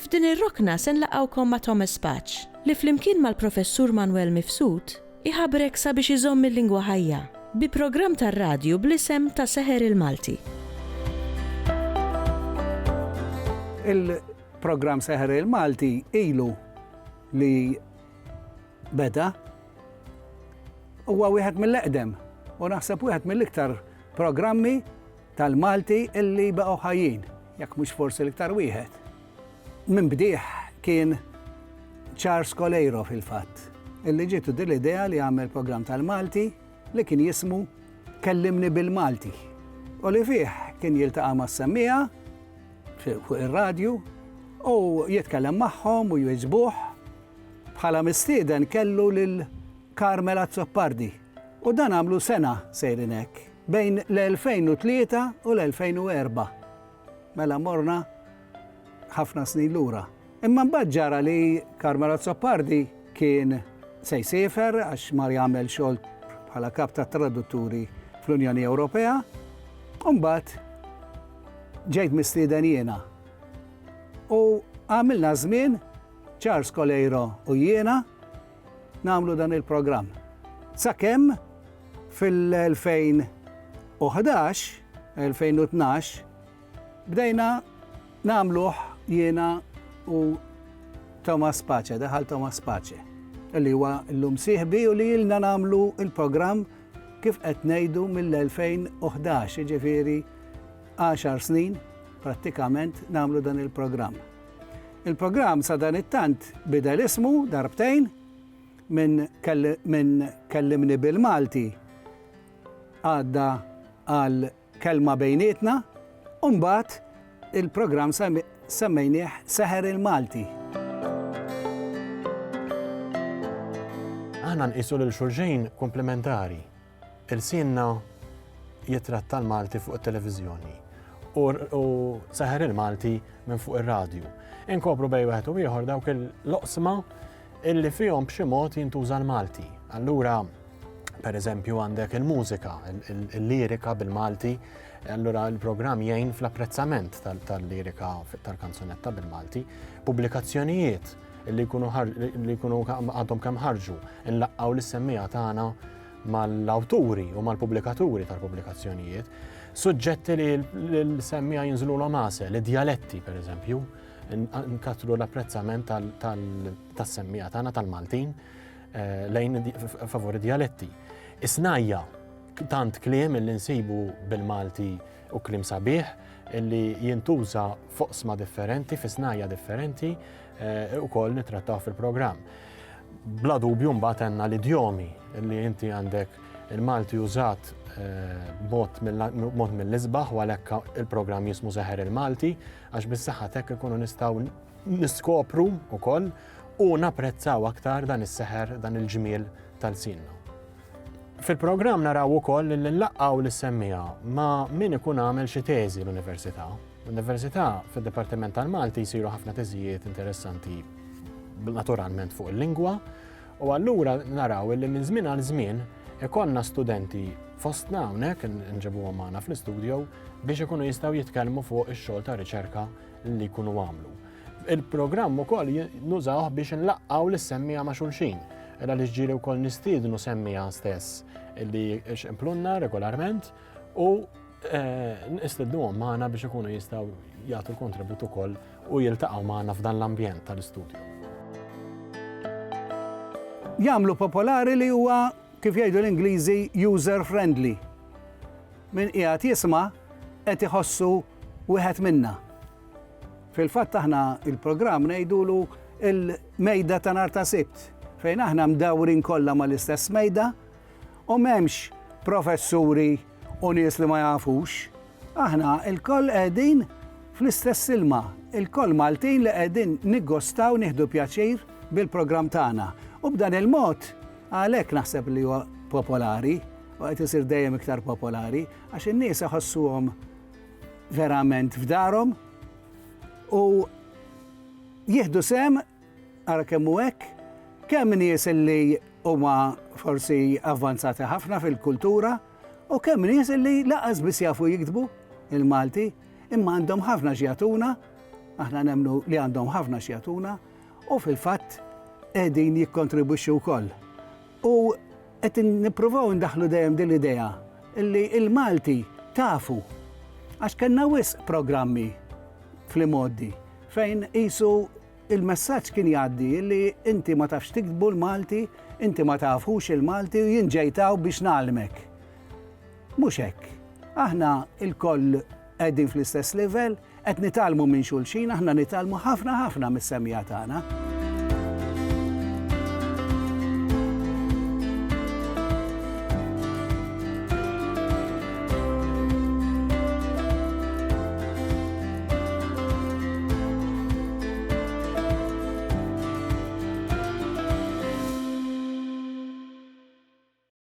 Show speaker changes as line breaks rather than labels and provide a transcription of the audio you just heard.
F'din ir-rokna se nlaqgħukom ma' Thomas Paċ, li flimkien mal-Professur Manwel Mifsud iħabrek sabiex iżomm il-lingwa ħajja, bi programm tar-radju bl-isem Ta' Seħer il-Malti.
Il-programm Seħer il-Malti ilu li beda, huwa wieħed mill-eqdem u naħseb wieħed mill-iktar programmi, tal-Malti li baqgħu ħajjin, jekk mhux forsi l-iktar wieħed. Minn bdieħ kien Charles Coleiro fil-fatt, illi ġitu din l-idea li għamel programm tal-Malti li kien jismu Kellimni bil-Malti. U li fih kien jiltaqa' ma' semmija fuq ir-radju u jitkellem magħhom u jwiġbuh bħala mistieden kellu lil Carmela Zoppardi. U dan għamlu sena sejrin hekk, bejn l-2003 u l-2004. Mela morna ħafna snin lura. Imma mbagħad ġara li Carmelo Azzopardi kien se jsiefer għax mar jagħmel xogħol bħala kap ta' tradutturi fl-Unjoni Ewropea. U mbagħad ġejt mistieden jiena. U għamilna żmien Charles Coleiro u jiena nagħmlu dan il-programm. Sakemm fil-2011, 2012, bdejna nagħmluh jiena u Thomas Pace, daħal Thomas Pace, li huwa l-lum siħbi u li jilna nagħmlu il-programm kif qed ngħidu mill-2011, ġifieri 10 snin prattikament nagħmlu dan il-programm. Il-programm sadanittant bidel ismu darbtejn, minn minn Kellimni bil-Malti għadda għal Kelma Bejnietna u mbagħad il-programm semmejnieh Seħer il-Malti.
Aħna nqisu lil xulxejn komplementari. Ilsienna jitratta l-Malti fuq it-televiżjoni u seħer il-Malti minn fuq ir-radju. Inkopru bej wieħed u ieħor dawk il-loqsma illi fihom b'xi mod jintuża l-Malti. Allura, per eżempju, għandek il-mużika, il-lirika bil-Malti, allura il-programm jgħin fl-apprezzament tal-lirika tal-kanzunetta bil-Malti, pubblikazzjonijiet li jkunu għadhom kemm ħarġu, nlaqqaw l-semmija tagħna mal-awturi u mal-pubblikaturi tal-pubblikazzjonijiet, suġġetti li l-semmija jinżlu l għase li djaletti per eżempju, nkattru l-apprezzament tal-semmija tagħna tal-Maltin eh, lejn favori djaletti. Isnajja, tant kliem li nsibu bil-Malti u klim sabiħ, li jintuża foqsma differenti, fi snajja differenti, eh, u koll nitrattaw fil-programm. Bla dubju mbagħad għandna l-idjomi li inti għandek il-Malti użat bot mill-isbaħ u għalhekk il-programm jismu Seħer il-Malti għax bis-saħħa tek ikunu nistgħu niskopru wkoll u napprezzaw aktar dan is-seħer dan il-ġmiel tal-sinna. Fil-programm naraw ukoll li nlaqgħu l-semmija ma' min ikun għamel xi teżi l-università L-Università fid-Dipartiment tal-Malti jsiru ħafna teżijiet interessanti naturalment fuq il-lingwa u allura naraw li minn żmien għal żmien ikonna studenti fostna hawnhekk nġibuhom magħna fl-istudio biex ikunu jistgħu jitkellmu fuq ix-xogħol ta' riċerka li jkunu għamlu. Il-programm ukoll nużawh biex nlaqqaw lis-semmija ma' xulxin. Ela li ġġieli wkoll nistiednu semmija stess li x'implunna regolarment u eh, nistednuhom magħna biex ikunu jistgħu jagħtu l-kontribut ukoll u jiltaqgħu magħna f'dan l-ambjent tal-istudju.
Jagħmlu popolari li huwa kif jgħidu l-Ingliżi user friendly. Min qiegħed jisma' qed iħossu wieħed minna. Fil-fatt aħna il-programm ngħidulu il-mejda ta' nar ta' sibt fejn aħna mdawrin kollha mal-istess mejda u m'hemmx professuri u nies li ma jafux. Aħna lkoll qegħdin fl-istess ilma, ilkoll Maltin li qegħdin niggostaw nieħdu pjaċir bil-programm tagħna. U b'dan il-mod, għalhekk naħseb li huwa popolari u qed isir dejjem iktar popolari għax in-nies iħossuhom verament f'darhom u jieħdu sehem Ara kemm hu hekk! Kemm nies li huma forsi avvanzati ħafna fil-kultura u kemm nies li lanqas biss jafu jiktbu l-Malti imma għandhom ħafna x'jagħtuna, aħna nemmnu li għandhom ħafna x'jagħtuna u fil-fatt qegħdin jikkontribwixxu wkoll U qed nippruvaw indaħħlu dejjem din l-idea li l-Malti tafu għax kellna wisq programmi fl-imgħoddi fejn qisu l-messaġġ kien jgħaddi li inti ma tafx tiktbu l-Malti, inti ma tafux il-Malti u jien ġejt hawn biex ngħallmek. Mhux hekk. Aħna lkoll Qegħdin fl-istess livell, qed nitgħallmu minn xulxin, aħna nitgħallmu ħafna ħafna mis-semmiegħa tagħna.